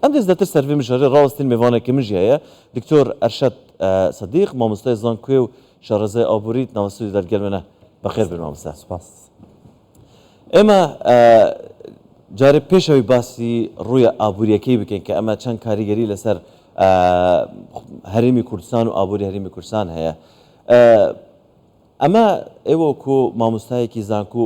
ئەم دەست لەتر سەرڤی مژەرێ ڕاوەستین مێڤانە کە مژی هەیە دکتۆر ئەرشەد سەدیق مامۆستای زان کوێ و شارەزای ئابووریت ناوە سوودی دەر گەلمەنە بەخێر بێن مامۆستا سپاس ئێمە جارێ پێشەوەی باسی ڕوویە ئابووریەکەی بکەین کە ئەمە چەند کاریگەری لەسەر هەرێمی کوردستان و ئابووری هەرمی کوردستان هەیە ئەمە ئێوەکو مامۆستایەکی زانکو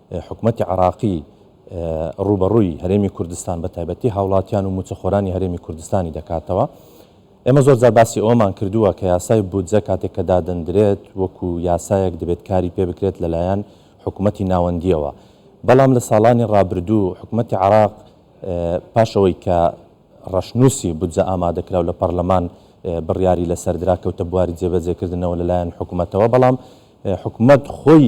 حکومەتی عێراقی ڕووبەڕووی هەرێمی کوردستان بە تایبەتی هاوڵاتیان و موچەخۆرانی هەرێمی کوردستانی دەکاتەوە. ئێمە زۆر جار باسی ئەوەمان کردووە کە یاسای بودجە کاتێک کە دادەندرێت وەکو یاسایەک دەبێت کاری پێ بکرێت لەلایەن حکومەتی ناوەندیەوە بەڵام لە ساڵانی ڕابردوو حکومەتی عراق پاش ئەوەی کە ڕەشنووسی بودجە ئامادەکراو لە پەرلەمان بڕیاری لەسەردرا کەوتە بواری جێبەجێکردنەوە لەلایەن حکومەتەوە بەڵام حکومت خۆی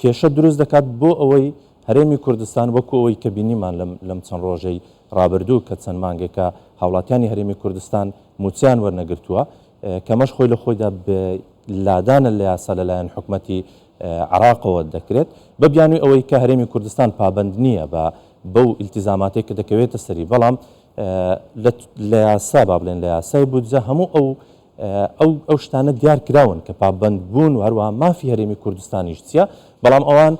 کێشە دروست دەکات بۆ ئەوەی هەرێمی کوردستان وەکو ئەوەی کە بینیمان لەم چەند ڕۆژەی ڕابردوو کە چەند مانگێکە هاوڵاتیانی هەرێمی کوردستان مووچەیان وەرنەگرتووە کەمەش خۆی لە خۆیدا لادانە لە یاسا لەلایەن حکومەتی عراقەوە دەکرێت بە بیانوی ئەوەی کە هەرێمی کوردستان پابند نییە بە بەو ئیلتیزاماتێک کە دەکەوێتە سەری بەڵام لە یاسا با بڵێن لە یاسای بودجە هەموو ئەو ئەو ئەو شتانە دیار کراون کە پابەند بوون و هەروەها مافی هەرێمی کوردستانیش چییە، بەڵام ئەوان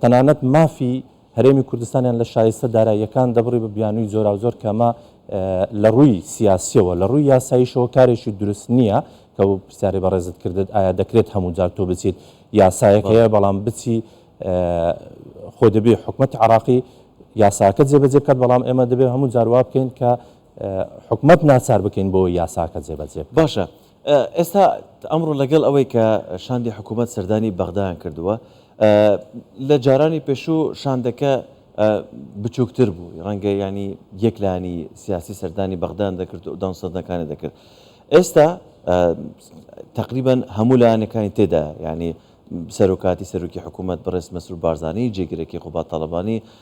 تەنانەت مافی هەرێمی کوردستانیان لە شایستە داراییەکان دەبڕی بە بیانووی جۆراوجۆر کە ئەمە لە ڕووی سیاسیەوە لە ڕووی یاساییشەوە کارێکی دروست نییە کە بۆ پرسیاری بەڕێزت کردت ئایا دەکرێت هەموو جار تۆ بچیت یاسایەک هەیە بەڵام بچی خۆ دەبێ حکومت عراقی یاساکە جێبەجێ بکات بەڵام ئێمە دەبێت هەموو جار وا بکەین کە حکومەت ناچار بکەین بۆ یاساکە جێبەجێ بکات. باشە ئێستا ئەمڕۆ لەگەڵ ئەوەی کە شاندی حکومەت سەردانی بەغدایان کردووە، لە جارانی پێشوو شاندەکە بچووکتر بوو، ڕەنگە یانی یەک لایەنی سیاسی سەردانی بەغدایان دەکرد و دانوستاندنەکانی دەکرد، ئێستا تەقریبەن هەموو لایەنەکانی تێدایە، یانی سەرۆکاتی سەرۆکی حکومەت بەڕێز مەسرور بارزانی، جێگرەکەی قوباد تاڵەبانی،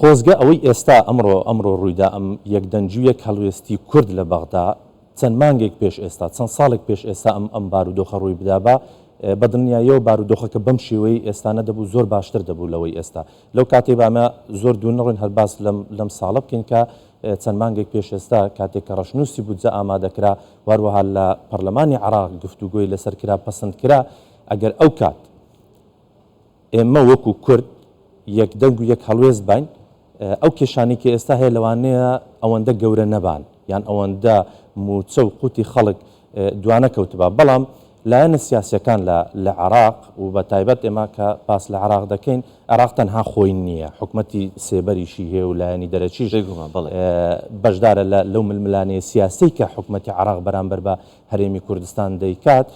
خۆزگە ئەوەی ئێستا ئەمڕۆ ئەمڕۆ ڕوویدا ئەم یەک دەنگ و یەک هەڵوێستی کورد لە بەغدا چەند مانگێک پێش ئێستا چەند ساڵێک پێش ئێستا ئەم ئەم بارودۆخە ڕووی بدابا بە دڵنیاییەوە بارودۆخەکە بەم شێوەیەی ئێستا نەدەبوو زۆر باشتر دەبوو لەوەی ئێستا لەو کاتەی بامە زۆر دوور نەڕۆین هەر باس لەم لەم ساڵە بکەین کە چەند مانگێک پێش ئێستا کاتێک کە ڕەشنووسی بودجە ئامادەکرا واروەها لە پەرلەمانی عراق گفتوگۆی لەسەر کرا پەسند کرا ئەگەر ئەو کات ئێمە وەکو کورد یەک دەنگ و یەک هەڵوێست باین، ئەو کێشانەی کە ئێستا هەیە لەوانەیە ئەوەندە گەورە نەبان یان ئەوەندە موچە و قوتی خەڵک دوانەکەوتبا بەڵام لایەنە سیاسیەکان لە لە عێراق و بە تایبەت ئێمە کە باس لە عێراق دەکەین عێراق تەنها خۆی نییە حکومەتی سێبەریشی هەیە و لایەنی دەرەکیش بەشدارە لە لەو ململانێ سیاسی کە حکومەتی عێراق بەرامبەر بە هەرێمی کوردستان دەیکات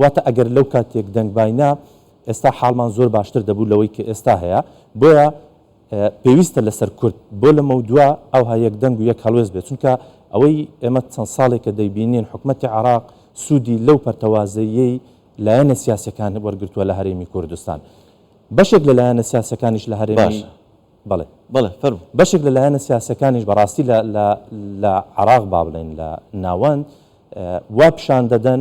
واتە ئەگەر لەو کاتێک دەنگباینا ئێستا حاڵمان زۆر باشتر دەبوو لەوەی کە ئێستا هەیە، بۆیە پێویستە لەسەر کورد بۆ لەمەودوا ئەوها یەک دەنگ و یەک هەڵوێست بێت، چونکە ئەوەی ئێمە چەند ساڵێکە دەیبینین حکومەتی عێراق سوودی لەو پەرتەوازەییەی لایەنە سیاسیەکان وەرگرتووە لە هەرێمی کوردستان بەشێک لە لایەنە سیاسیەکانیش لە هەرێمی باشە بەڵێ بەڵێ فەرموو. بەشێک لە لایەنە سیاسیەکانیش بەڕاستی لە عێراق با بڵێین لە ناوەند وا پیشان دەدەن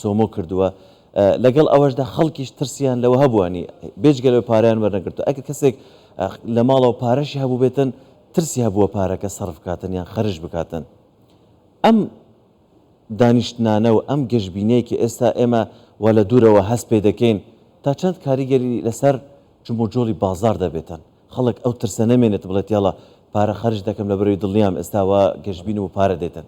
سۆمۆ کردووە، لەگەڵ ئەوەشدا خەڵکیش ترسیان لەوە هەبووە نی بێجگە لەوەی پارەیان وەرنەگرتووە ئەگەر کەسێک لە ماڵەوە پارەشی هەبووبێتن ترسی هەبووە پارەکە سەرف بکاتن یان خەرج بکاتن ئەم دانیشتنانە و ئەم گەشبینەیە کە ئێستا ئێمە وە لە دوورەوە هەست پێ دەکەین تا چەند کاریگەری لەسەر جموجۆڵی بازار دەبێتن خەڵک ئەو ترسە نەمێنێت بڵێت یاڵە پارە خەرج دەکەم لە بەرەوەی دڵنیام ئێستاوە گەشبین و پارە دێتن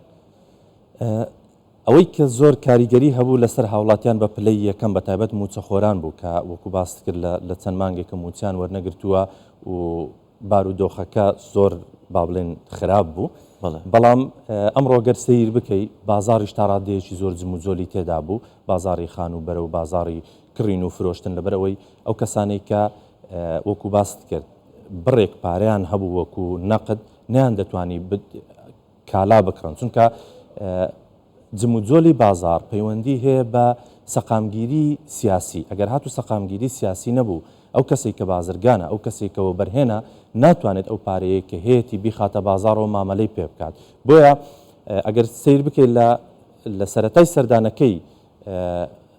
ئەوەی کە زۆر کاریگەری هەبوو لەسەر هاوڵاتیان بە پلەی یەکەم بە تایبەت مووچەخۆران بوو کە وەکو باست کرد لە چەند مانگێکە مووچەیان وەرنەگرتووە و بارودۆخەکە زۆر با بڵێن خراپ بوو بەڵام ئەمڕۆ گەر سەیر بکەی بازاڕیش تا ڕادەیەکی زۆر جموجۆلی تێدا بوو بازاری خان و بەرە و بازاری کڕین و فرۆشتن لەبەرەوەی ئەو کەسانەی کە وەکو باست کرد بڕێک پارەیان هەبوو وەکو نەقد نیان دەتوانی کالا بکڕن چونکە جموجۆلی بازاڕ پەیوەندی هەیە بە سەقامگیری سیاسی ئەگەر هاتو سەقامگیری سیاسی نەبوو ئەو کەسێک کە بازرگانە ئەو کەسێک کە وەبەرهێنە ناتوانێت ئەو پارەیە کە هەیەی بیخاتە بازاڕەوە مامەلەی پێ بکات بۆیە ئەگەر سیر بکەیت لە لە سەتای سەردانەکەی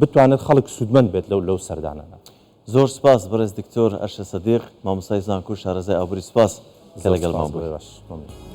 بتوانێت خەڵک سوودمەند بێت لەو لەو سەردانانە. زۆر سوپاس بەڕێز دکتۆر ئەرشە سدیق مامۆستای زانکۆو شارەزای ئابوری سوپاس کە لەگەڵمان بوی.